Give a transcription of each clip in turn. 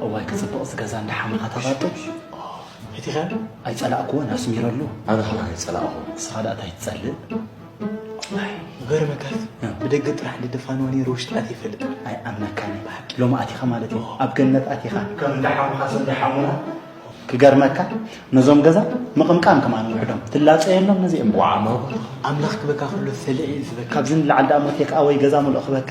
እዋይ ክፅብቕ እዚ ገዛ እንዳ ሓመኻ ተባጡ ኣይፀላእክዎን ኣስሚረሉ ኣነ ከ ኣይፀላእኹ ንስኻ ደኣ እንታይ ትፀልእ ዝገርመካ ብደገ ጥራሕ ድደፋንዋ ነይሩ ውሽጢ ኣትየ ይፈልጥ ኣይኣምነካን እየ ብሓቂ ሎሚ ኣቲኻ ማለት እዩ ኣብ ገነት ኣቲኻ ከም እንዳ ሓሙኻ ሰብ እንዳ ሓሙና ክገርመካ ነዞም ገዛ ምቕምቃም ከማ ንውሕዶም ትላፀ የሎም ነዚኦም ዋዓሞ ኣምላኽ ክበካ ኩሎ ሰልዒ እዩ ዝበካ ካብዚ ንላዓል ዳኣ ሞት የካ ወይ ገዛ ምልኦ ክበካ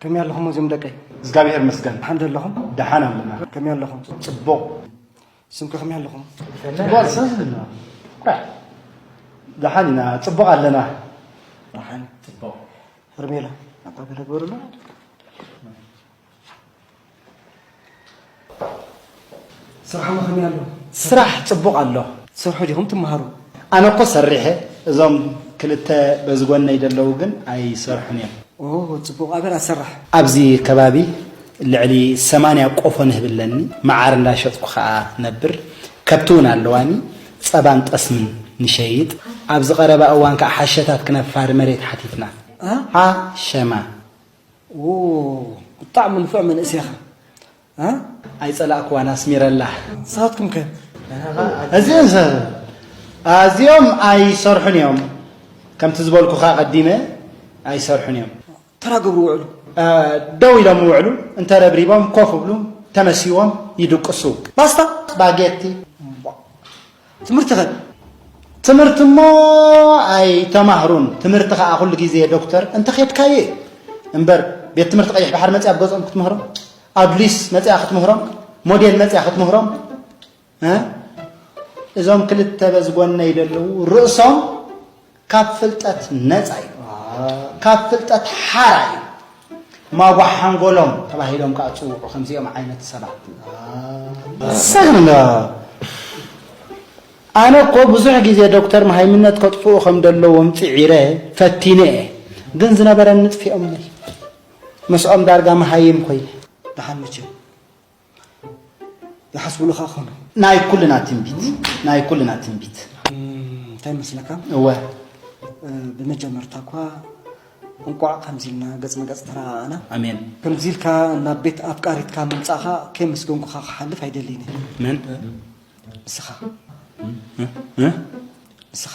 ከመይ ኣለኹም እዞም ደቀይ? እግዚኣብሔር ይመስገን። ደሓን ዶ ኣለኹም? ደሓን ኣለና። ከመይ ኣለኹም? ጽቡቕ። ስምከ ከመይ ኣለኹም? ጽቡቕ ዝሰዝልና ደሓን ኢና፣ ጽቡቕ ኣለና። ደሓን ጽቡቕ። ሄርሜላ ኣባ ገለ ግበሩላ ስራሕማ ከመይ ኣሎ? ስራሕ ጽቡቕ ኣሎ። ትሰርሑ ዲኹም ትመሃሩ? ኣነ እኮ ሰሪሐ እዞም ክልተ በዚ ጎነይ ደለዉ ግን ኣይሰርሑን እዮም። ኦሆ ጽቡቕ ኣበር ኣሰራሕ። ኣብዚ ከባቢ ልዕሊ ሰማንያ ቆፎ ንህቢ ኣለኒ፣ መዓር እንዳ ሸጥኩ ከኣ ነብር። ከብቲ ውን ኣለዋኒ፣ ጸባን ጠስምን ንሸይጥ። ኣብዚ ቀረባ እዋን ከኣ ሓሸታት ክነፋሪ መሬት ሓቲትና። ሓሸማ። ብጣዕሚ ንፉዕ መንእሰይ ኢኻ ኣይጸላእክዋን ኣስሚረላ ንስኻትኩም ከ ኣዚኦም ኣይሰርሑን እዮም ከምቲ ዝበልኩኻ ቀዲመ ኣይሰርሑን እዮም ተራ ገብሩ ውዕሉ ደው ኢሎም ውዕሉ እንተረብሪቦም ኮፍ ብሉ ተመሲዎም ይድቅሱ ባስታ ስፓጌቲ ትምህርቲኸ? ትምህርቲ እሞ ኣይተማህሩን፣ ትምህርቲ ኸኣ ኩሉ ግዜ ዶክተር እንተኼድካዮ እዩ እምበር፣ ቤት ትምህርቲ ቀይሕ ባሕሪ መጺኣ ኣብ ገጾም ክትምህሮም፣ ኣዱሊስ መጺኣ ክትምህሮም፣ ሞዴል መጺኣ ክትምህሮም እ እዞም ክልተ በዚ ጎነይ ዘለዉ ርእሶም ካብ ፍልጠት ነጻ እዩ። ካብ ፍልጠት ሓራ እዩ። ማጓሕ ሓንጎሎም ተባሂሎም ከኣ ዝጽውዑ ከምዚኦም ዓይነት ሰባት ሰግንዶ ኣነ እኮ ብዙሕ ግዜ ዶክተር መሃይምነት ከጥፍኡ ከም ዘለዎም ጽዒረ ፈቲነ እየ ግን ዝነበረኒ ጥፊኦምኒ ምስኦም ዳርጋ መሃይም ኮይነ ደሓን ምችው ዝሓስብሉ ከኣ ክኾኑ ናይ ኩልና ትንቢት ናይ ኩልና ትንቢት እንታይ መስለካ እወ ብመጀመርታ እኳ እንቋዕ ከምዚ ኢልና ገጽ ንገጽ ተረኣኣና ኣሜን ከምዚ ኢልካ ናብ ቤት ኣፍቃሪትካ ምምጻእኻ ከይመስገንኩኻ ክሓልፍ ኣይደልይን መን ንስኻ ንስኻ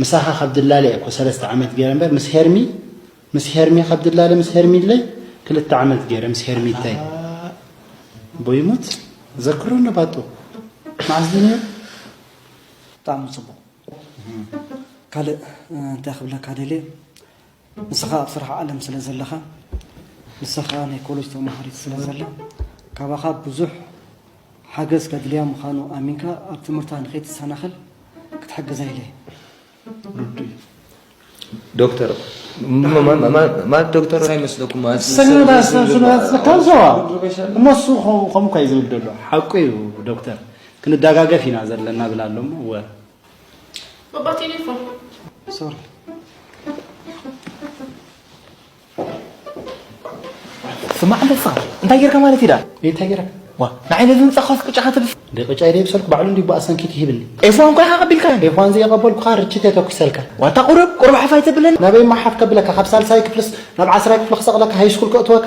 ምሳኻ ካብ ድላለ እየ እኮ ሰለስተ ዓመት ገይረ እምበር ምስ ሄርሚ ምስ ሄርሚ ካብ ድላለ ምስ ሄርሚለ ክልተ ዓመት ገይረ ምስ ሄርሚተይ ኣቦ ይሙት ዘክሮ ነባጡ መዓስ ድዩ ነይሩ ብጣዕሚ ጽቡቕ ካልእ እንታይ ክብለካ ደልየ ንስኻ ኣብ ስራሕ ዓለም ስለ ዘለኻ ንሳ ከኣ ናይ ኮለጅ ተማሃሪት ስለ ዘላ ካባኻ ብዙሕ ሓገዝ ከድልያ ምዃኑ ኣሚንካ ኣብ ትምህርታ ንኸይትሰናኸል ክትሕግዛ ኢለ ርዱእ ዶክተር ማለት ዶክተር እንታይ መስለኩም እነሱ ከምኡ እኳ እዩ ዝብል ዘሎ ሓቁ እዩ ዶክተር ክንደጋገፍ ኢና ዘለና ብላ ኣሎ እሞ Papà telefono. Sorry. ስማዕ ኣለካ እንታይ ጌርካ ማለት ኢዳ እንታይ ጌረ ዋ ንዓይ ነዚ ህንፃ ኳስ ቅጫ ከተብስ እንደ ቅጫ ኢደ ብሰልኩ ባዕሉ እንዲ ብኣ ሰንኪት ይህብኒ ኤፍዋን እኳ ኢኻ ቀቢልካ ኤፍዋን ዘየቐበልኩ ከዓ ርችት የተኩሰልካ ዋታ ቁርብ ቁርብ ሓፋይ ተብለኒ ናበይ ማሓፍ ከብለካ ካብ ሳልሳይ ክፍልስ ናብ ዓስራይ ክፍሊ ክሰቕለካ ሃይስኩል ከእትወካ